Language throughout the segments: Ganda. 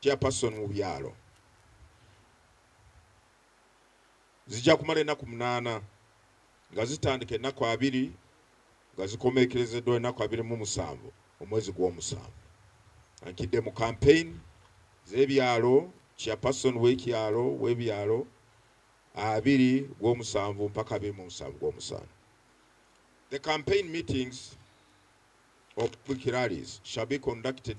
Chairperson mu byalo zijja kumala ennaku munaana nga zitandika ennaku abiri nga zikomeekerezeddwa ennaku abiri mu musanvu omwezi gw'omusanvu ankidde mu campaign z'ebyalo Chairperson w'ekyalo w'ebyalo abiri gw'omusanvu mpaka abiri mu musanvu gw'omusanvu The campaign meetings or quick rallies shall be conducted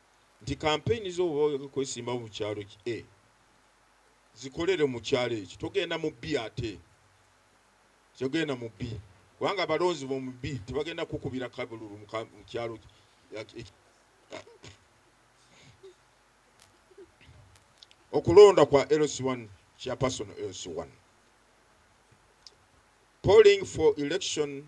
nti kampeyini zo bwoba oyagala okwesimbawo mu kyalo ki e zikolere mu kyalo ekyo togenda mu bbi ate togenda mu bbi kubanga abalonzi bomu bbi tebagenda kukubira kabululu mu kyalo okulonda kwa LC1 chairperson LC1 polling for election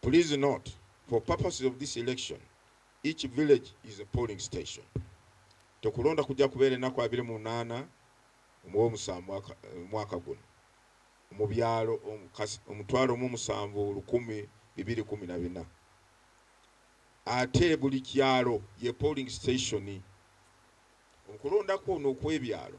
Please note, for purposes of this election, each village is a polling station. Okulonda kujja kubeera ennaku abiri mu munaana mu Omusanvu omwaka guno mu byalo omutwalo mu musanvu lukumi bibiri kumi na bina ate buli kyalo ye polling station. Okulonda kuno okwebyalo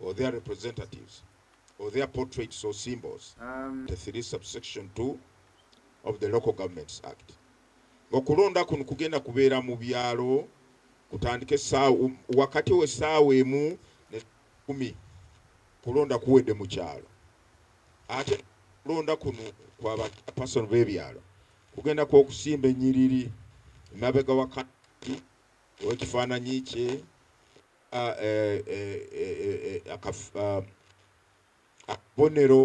or their representatives or their portraits or symbols um, the 3 subsection 2 of the local governments act okulonda kuno kugenda kubeera mu byalo kutandike saawa wakati we saawa emu ne kumi kulonda kuwedde mu kyalo ate kulonda kuno kwa bapasono b'ebyalo kugenda kwokusimba ennyiriri emabega wakati owekifaananyi kye akabonero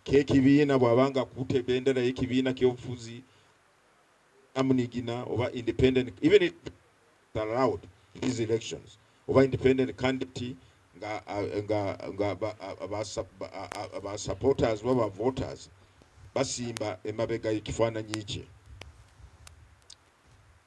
kekibiina bwaba nga akutte ebendera yekibiina kyobufuzi amunigina oba independent even it allowed these elections oba independent candidate nga nga nga aba supporters baba voters basimba emabega ekifaananyi kye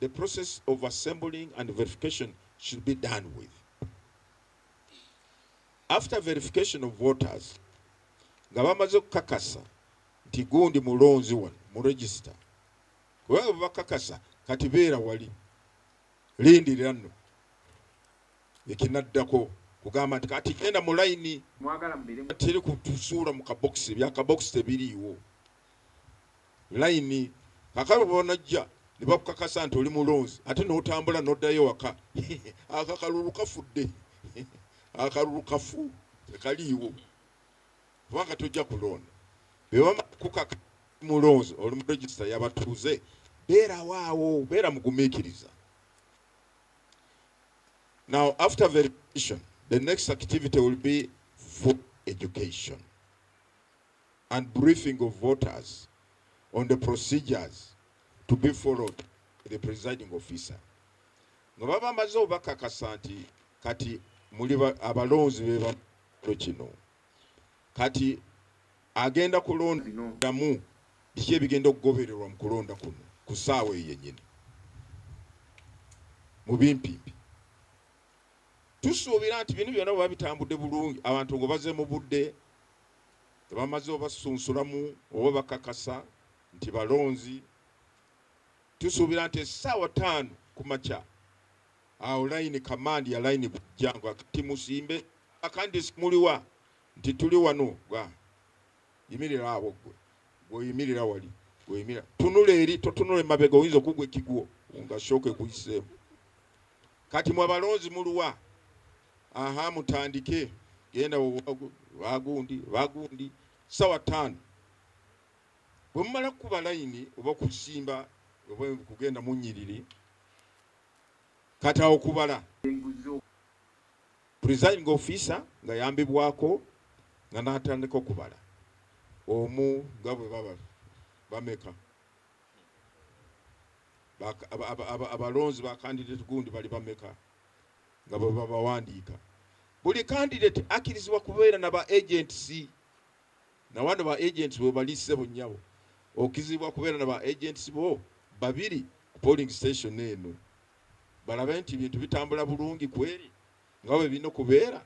The process of assembling and verification should be done with after verification of voters nga bamaze okukakasa nti gundi mulonzi wano mu register kubanga bwebakakasa kati beera wali lindirira nno ekinaddako kugamba nti kati genda mu layini teri kutusuula mu kabokisi ebyakabokisi tebiriiwo layini kakalu bwonajja nebakukakasa nti oli mulonzi ate notambula noddayo waka ako akalulu kafudde akalulu kafu tekaliiwo kubanga tojja kulonda bebakukaka mulonzi oli mu regisita yabatuuze beerawo awo beera mugumiikiriza now after verification the next activity will be for education and briefing of voters on the procedures to be followed the presiding officer nga baba bamaze obakakasa nti kati muli abalonzi bebalo kino kati agenda kulondamu biki ebigenda okugobererwa mu kulonda kuno ku ssaawa eyo yennyini mu bimpimpi tusuubira nti bino byonna bweba bitambudde bulungi abantu ngo baze mu budde nga bamaze obasunsulamu oba bakakasa nti balonzi, tusuubira nti essaawa taano kumakya awo layini kamandi ya layini bujja nga kati musimbe akandisi muliwa nti tuli wano gwa yimirira awo ggwe gweoyimirira wali gweoyimira tunula eri totunula emabega oyinza okugwa ekigwo nga shooka ekuyiseemu kati mwe abalonzi muliwa Aha mutandike genda wagundi bagundi sawa tano bwemumala kukuba layini oba kusimba oba kugenda munyiriri kati awo kubala presiding officer nga yambibwako nga natandika okubala omu nga bwe baba bameka abalonzi bakandidate gundi bali bameka nga bwe babawandiika. Buli kandideti akirizibwa kubeera na ba agents nawano ba agents webali ssebo nnyabo okizibwa kubeera na ba agents bo babiri ku polling station eno balabe nti bintu bitambula bulungi kweri nga bwe bino kubeera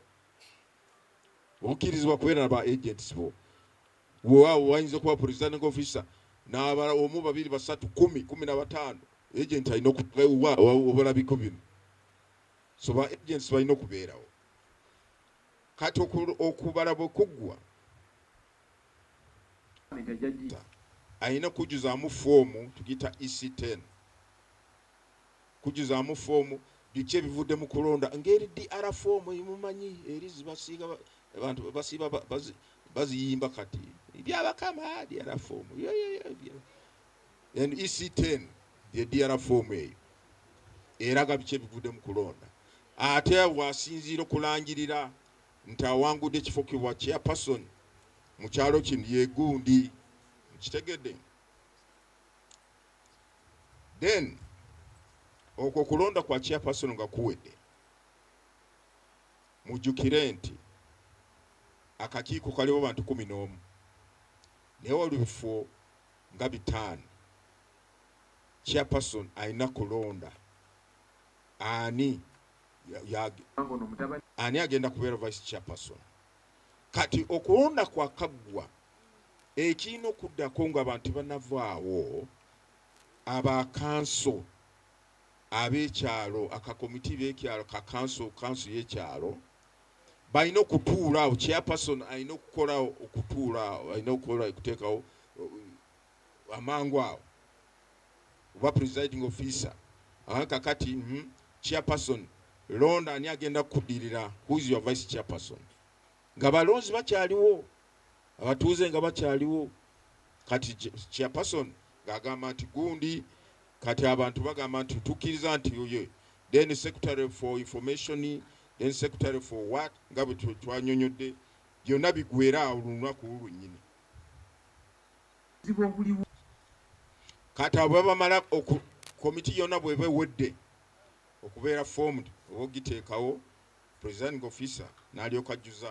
okirizibwa kubeera na ba agents bo waawo wayinza okuba presiding officer n'abala omu babiri basatu kumi kumi na bataano agent alina okubalabiko bino so ba agents balina okubeerawo kati okubala bwe kuggwa alina kujjuzaamu foomu tugiyita ec10 kujjuzaamu foomu biki ebivudde mu kulonda ngeri dr foomu emumanyi eri zibasiiga abantu basiiba baziyimba kati byabakama dr foomu NEC ten ye DR foomu eyo eraga biki ebivudde mu kulonda ate w'asinziira okulangirira nti awangudde ekifo ki bwa Chairperson mu kyalo kino ye gundi. Mukitegedde? Then okwo okulonda kwa Chairperson nga kuwedde, mujjukire nti akakiiko kaliwo bantu kumi n'omu naye olubifo nga bitaano chairperson alina kulonda ani ani agenda kubeera vice chairperson kati okulonda kwakaggwa ekirina okuddako nga abantu tebanavaawo abakanso ab'ekyalo akakomiti b'ekyalo kakanso kanso y'ekyalo balina okutuula awo chairperson alina okukola okutuula awo alina okukola okuteekawo uh, amangu awo oba presiding officer ah, kakati mm, chairperson londa ani agenda kukudirira who is your vice chairperson nga balonzi bakyaliwo abatuuze nga bakyaliwo kati chairperson ng'agamba nti gundi kati abantu bagamba nti tukkiriza nti oye then secretary for information then secretary for what nga bwe twanyonyodde byonna bigwera awo lunaku lwennyini kati abo babamala komiti yonna bweba ewedde okubeera formed oba ogiteekawo presiding officer n'alyoka ajjuza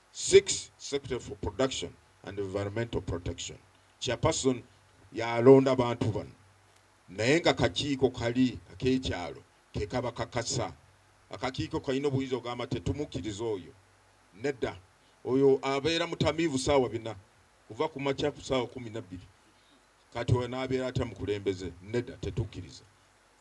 Six, Secretary for Production and Environmental Protection, Chairperson y'alonda bantu bano naye nga kakiiko kali ak'ekyalo ke kabakakasa. Akakiiko kalina obuyinza okugamba nti tetumukkiriza oyo. Nedda, oyo abeera mutamiivu ssaawa bina kuva ku makya ku ssaawa kkumi na bbiri. Kati oyo anaabeera atya mukulembeze? Nedda, tetukkiriza.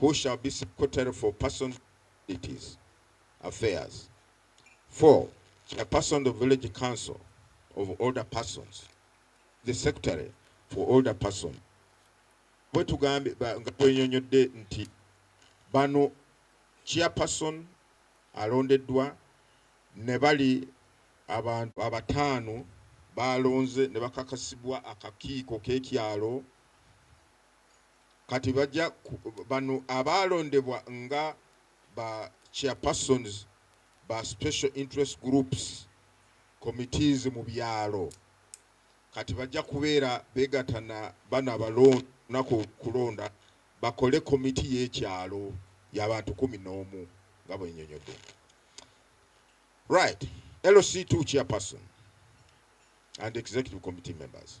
who shall be secretary for persons disabilities affairs four chairperson of village council of older persons the secretary for older person bwe tugambye nga bwenyonyodde nti bano chairperson alondeddwa ne bali abantu abataano baalonze ne bakakasibwa akakiiko k'ekyalo Kati baja ku bano abaalondebwa nga ba chairpersons ba special interest groups committees mu byalo kati baja kubeera begata na bano abalondna ku kulonda bakole committee y'ekyalo ya bantu kumi n'omu nga bwenyonyodde. Right. LC2 chairperson and executive committee members.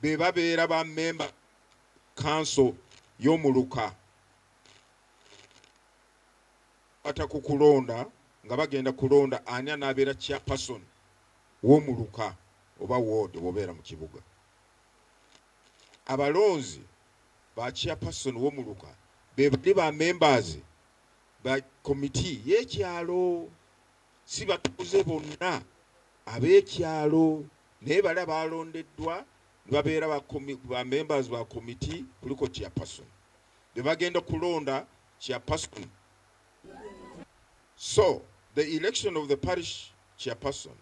be babeera ba mmemba kkanso y'omuluka kwata ku kulonda nga bagenda kulonda ani anaabeera chairperson w'omuluka oba ward bwobeera mu kibuga abalonzi ba chairperson w'omuluka be bali ba members ba komiti y'ekyalo Si batuuze bonna ab'ekyalo naye bali abaalondeddwa ne babeera ba ba members ba komiti kuliko Chairperson be bagenda kulonda Chairperson so the election of the parish Chairperson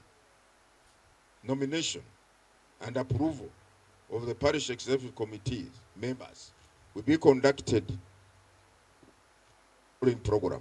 nomination and approval of the parish executive committee members will be conducted in program.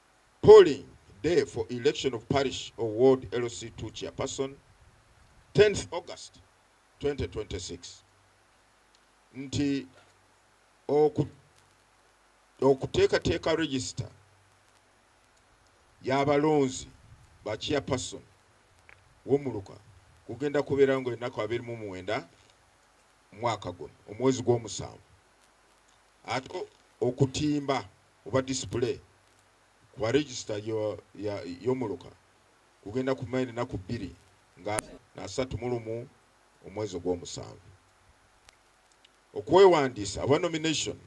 Polling day for election of parish or ward LC ii chairperson, tenth August twenty twenty six, nti oku okuteekateeka register y'abalonzi ba chairperson w'omuluka kugenda kubeerawo nga ennaku abiri mu mwenda mwaka guno omwezi gw'omusanvu ate okutimba oba display kuba register yomuluka gugenda kumala enaku bbiri nga nasatu mulumu omwezi ogwomusanvu okwewandiisa aba nomination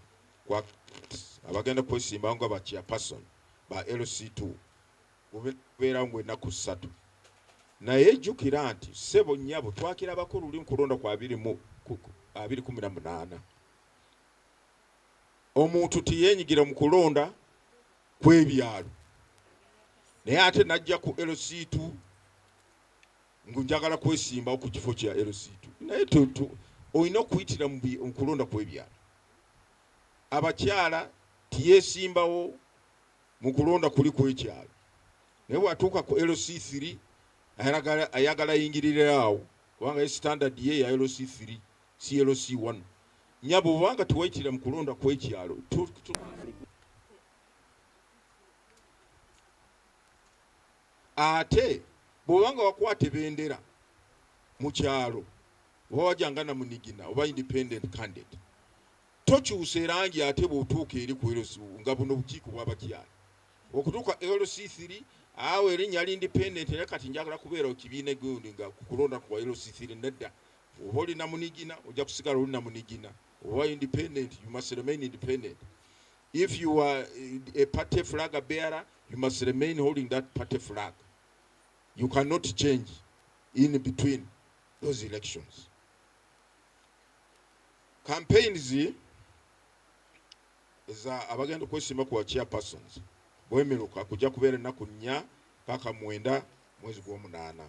kwa abagenda kwesimbawo nga ba chairperson ba LC2 gubeerawo ngu enaku ssatu naye jukira nti sebo nyabo twakirabako luli nkulonda kwa abiri kumi na munaana omuntu tiyeenyigira mu kulonda kw'ebyalo naye ate najja ku LC2 ngu njagala kwesimbawo ku kifo kya LC2 naye olina okuyitira mu kulonda kw'ebyalo. Abakyala tiyeesimbawo mu kulonda kuli kw'ekyalo naye bw'atuuka ku LC3 ayagala ayingiriraawo kubanga ye sitandadi ye ya LC3 CLC wano nyabo bwobanga tewayitira mu kulonda kwekyalo ate bwobanga wakwata ebendera mu kyalo oba wajanga na munigina oba independent candidate tokyusa erangi ate bwotuuka eri ku LC nga buno obukiiko bwabakyala okutuuka LC 3 awo erinnya li independent era kati njagala kubeera kibiina gundi nga kukulonda ku LC 3 nedda Oba oli namunigina ojja kusigala oli namunigina. Oba independent you must remain independent. If you are eh, a party flag bearer you must remain holding that party flag. You cannot change in between those elections. Campaigns za abagenda okwesimba ku chairpersons bwemeruka kujja kubeera ennaku nnya paka mwenda mwezi gw'omunaana.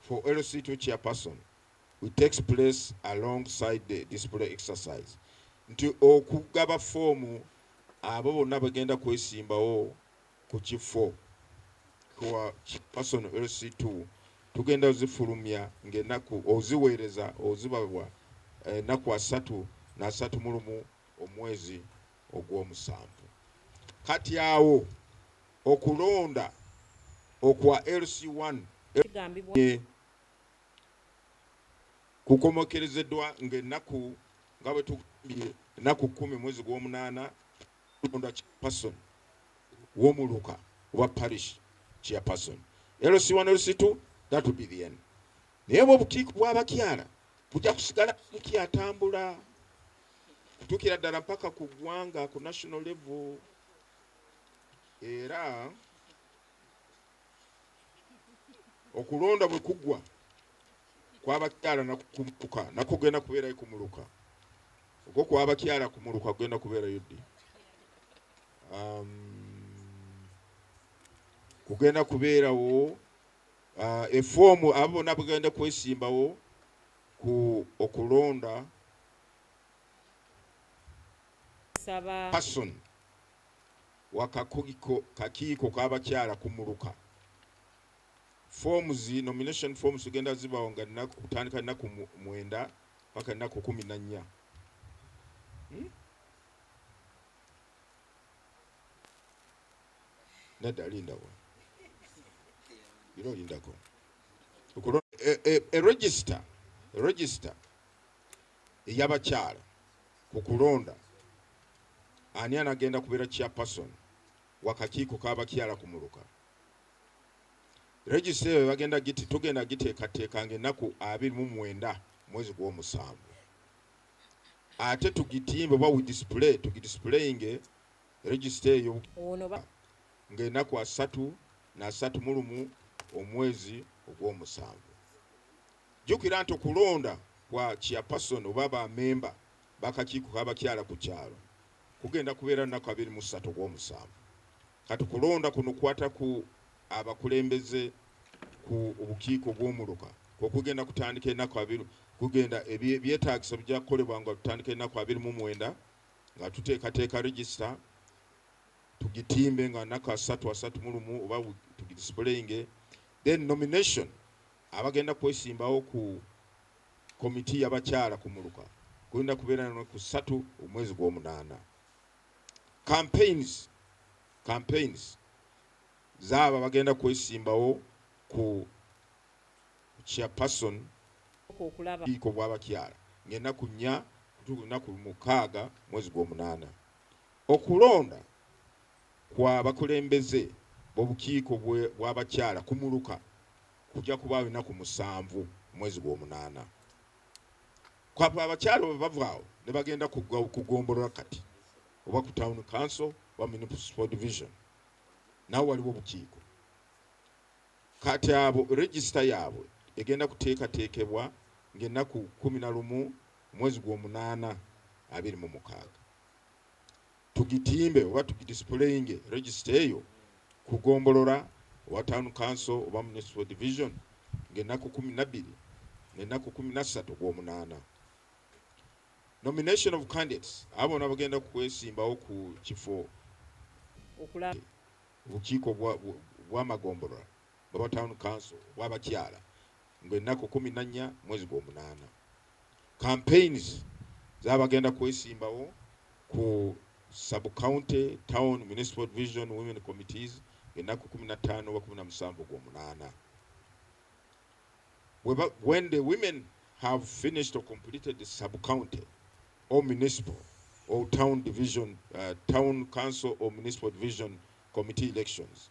For LC2 Chairperson, it takes place along side the display exercise nti okugaba foomu abo bonna bagenda kwesimbawo ku kifo kuwa person LC2 tugenda ozifulumya ng'enaku oziweereza ozibabwa enaku asatu nasatu mulumu omwezi ogwomusanvu kati awo Okulonda okwa LC one kigambibwa kukomekerezedwa nga enaku nga bwetugambye enaku kumi mwezi gwomunana kulonda chairperson womuluka oba parish chairperson LC one LC two that would be the end naye bwe obutiiko bw'abakyala bujja kusigala bukyatambula kutuukira ddala mpaka ku ggwanga ku national level era okulonda bwe kugwa kwabakyala nakumuluka nako genda kubeerayo kumuluka ogwo kwabakyala kumuluka kugenda kubeerayo ddi um, kugenda kubeerawo uh, efoomu abo bona bugenda kwesimbawo ku okulonda Person wa kakiiko k'abakyala ku muluka. Forms, nomination forms zigenda zibawo nga nnaku kutandika nnaku mwenda paka nnaku kumi na nnya. Hmm? Nedda lindawo. Bino lindako. Okulo e, e, e register, register. eyabakyala ku kulonda ani anagenda kubera chairperson wakakiiko kabakyala ku muluka registry eyo bagenda giti tugenda giteekateeka nga ennaku abiri mu mwenda mwezi gw'omusanvu ate tugitimbe oba widisplay tugidisplayinge registry eyo ng'enaku asatu nasatu mulumu omwezi ogw'omusanvu Jjukira nti okulonda kwa Chairperson oba ba memba b'akakiiko k'abakyala ku kyalo kugenda kubeera lunaku abiri mu ssatu ogw'omusanvu. Kati kulonda kuno kukwata ku abakulembeze ku obukiiko bw'omuluka kwo kugenda kutandika enaku abiri kugenda ebyetaagisa bijja kukolebwa nga tutandika enaku abiri mu mwenda nga tuteekateeka register tugitimbe nga naku asatu asatu mu lumu oba tugidisipuleyinge then nomination Abagenda kwesimbawo ku komiti yabakyala ku muluka kugenda kubeera nalunaku ssatu omwezi gwomunaana. Campaigns campaigns zaabo abagenda kwesimbawo ku chairperson obukiiko bwabakyala ngenaku nnya kutuuka lunaku mukaaga mwezi gwomunaana. Okulonda. Kwa bakulembeze b'obukiiko bw'abakyala ku muluka kujja kubaawo ennaku musanvu mu mwezi gw'omunaana. Kwa abakyala bwe bava awo ne bagenda ku ggombolola kati oba ku Town Council oba Municipal Division nawo waliwo obukiiko kati abo regisita yaabwe egenda kuteekateekebwa ng'ennaku kkumi na lumu mu mwezi gw'omunaana abiri mu mukaaga. tugitimbe oba tugidisipuleyinge regisita eyo ku gombolola owa town council oba municipal division ng'ennaku kumi nabbiri n'ennaku kumi nassatu ogw'omunaana. Nomination of candidates abo bona bagenda kukwesimbawo ku kifo obukiiko bw'amagombolola bwaba town council bw'abakyala Mbu ennaku kumi nannya mwezi gwomunaana campaigns zabagenda kwesimbawo ku sub county, town, municipal division women committees ennaku kumi na ttaano oba kumi na musanvu gwomunaana when the women have finished or completed the sub county or municipal or town division uh, town council or municipal division committee elections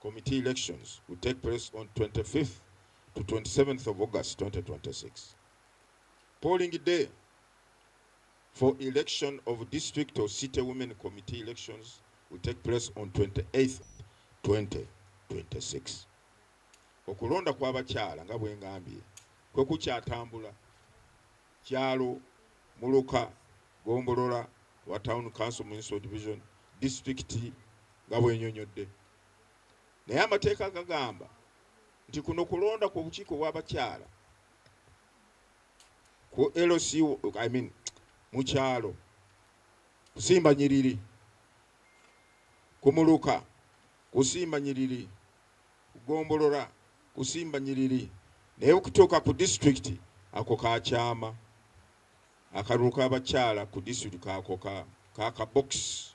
Committee elections will take place on 25th to 27th of August 2026. Polling day for election of district or city women committee elections will take place on 28th 2026. Okulonda kw'abakyala nga bwe ngambye kwe kukyatambula kyalo muluka gombolola wa town council municipal division disitulikiti nga bwenyonyodde. Naye amateeka gagamba nti kuno kulonda ku bukiiko bw'abakyala ku LC I mean mu kyalo kusimba nyiriri ku muluka kusimba nyiriri kugombolola kusimba nyiriri naye kutuuka ku disitulikiti ako kakyama akalulu k'abakyala ku disitulikiti ako ka kabokisi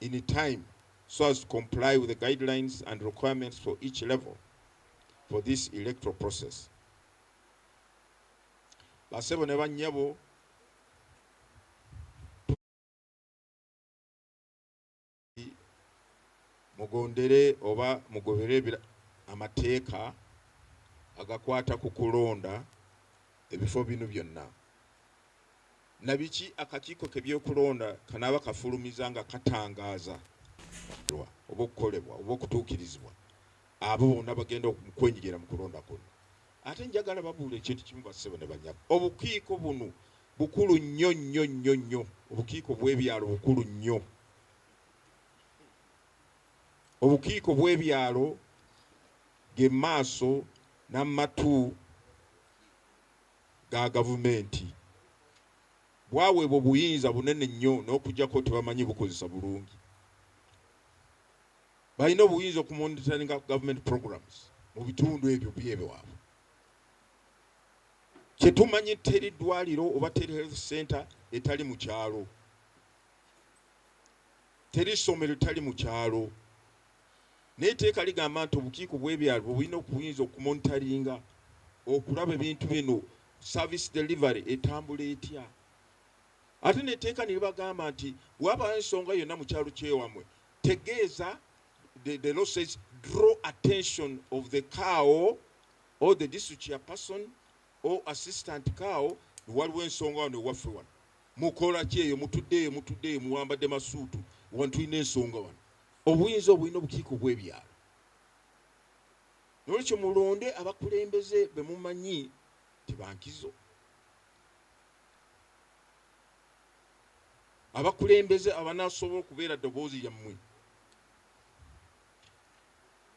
in time so as to comply with the guidelines and requirements for each level for this electoral process. Basebo ne bannyabo mugondere oba mugobere amateeka agakwata ku kulonda ebifo bino byonna na biki akakiiko ke byokulonda kanaaba kafulumiza nga katangaaza lwa oba okukolebwa oba okutuukirizibwa abo bonna bagenda okwenyigira mu kulonda kuno. Ate njagala babuula ekintu kimu bassebo ne banyabo, obukiiko bunu bukulu nnyo nnyo nnyo nnyo, obukiiko bwebyalo bukulu nnyo, obukiiko bwebyalo ge maaso na matu. ga gavumenti bwaweebwa obuyinza bunene nnyo n'okujjako tebamanyi bukozesa bulungi. Balina obuyinza okumonitaringa government programs mu bitundu ebyo byebwaabwe. Kyetumanyi teri ddwaliro oba teri health center etali mu kyalo. Teri ssomero etali mu kyalo. Naye etteeka ligamba nti obukiiko bw'ebyalo bwe bulina okuyinza okumonitaringa okulaba ebintu bino, service delivery, etambula etya. Ate n'etteeka ne libagamba nti bwe wabaawo ensonga yonna mu kyalo ky'ewammwe, tegeeza, the, the law says draw attention of the cow or the district chairperson or assistant cow, waliwo ensonga wano ewaffe wano mukola ki eyo, mutudde eyo, mutudde eyo, muwambadde masuutu wano, tulina ensonga wano. Obuyinza obwo bulina obukiiko obw'ebyalo. N'olwekyo mulonde abakulembeze be mumanyi nti ba nkizo, abakulembeze abanaasobola okubeera ddoboozi lyammwe.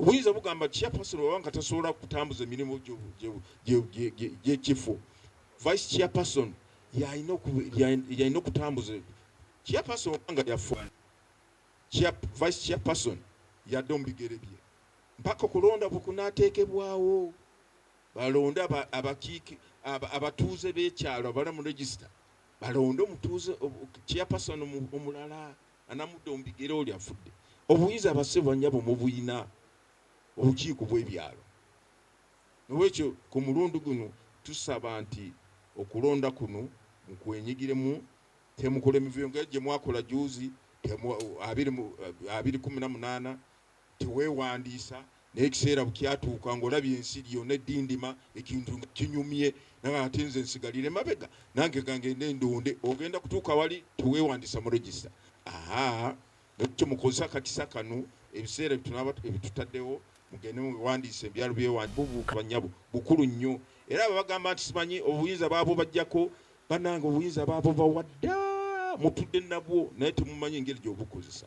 obuyinza bugamba nti chairperson waba nga tasobola kutambuza emirimu gyekifo vice chairperson yalina okutambuza chairperson oba nga yafa vice chairperson yadde omubigere bye mpaka okulonda bwe kunateekebwawo balonde abakiiki abatuuze b'ekyalo abala mu regisita balonde omutuuze chairperson omulala Anamudde omubigere oli afudde. Obuyinza ba ssebo nyabo mubuyina obukiiko bwebyalo nolwekyo kumulundu guno tusaba nti okulonda kuno mukwenyigiremu temukola mivuyo nga jemwakola juuzi abiri kumi namunana teweewandiisa naye ekiseera bwkyatuuka ng'olabye ensi yona eddindima, ekintu nga kinyumye naye ate nze nsigalire mabega nange kangende ndonde, ogenda kutuuka wali teweewandiisa mu register ahaa nakyo mukozese akakisa kano ebiseera byetunaba ebitutaddewo mugende mwewandiise ebyalo byewandiisa bannyabo bukulu nnyo era abo abagamba nti simanyi obuyinza baabubajjako banange obuyinza baabubawa dda mutudde nabwo naye temumanyi engeri gyebukozesa.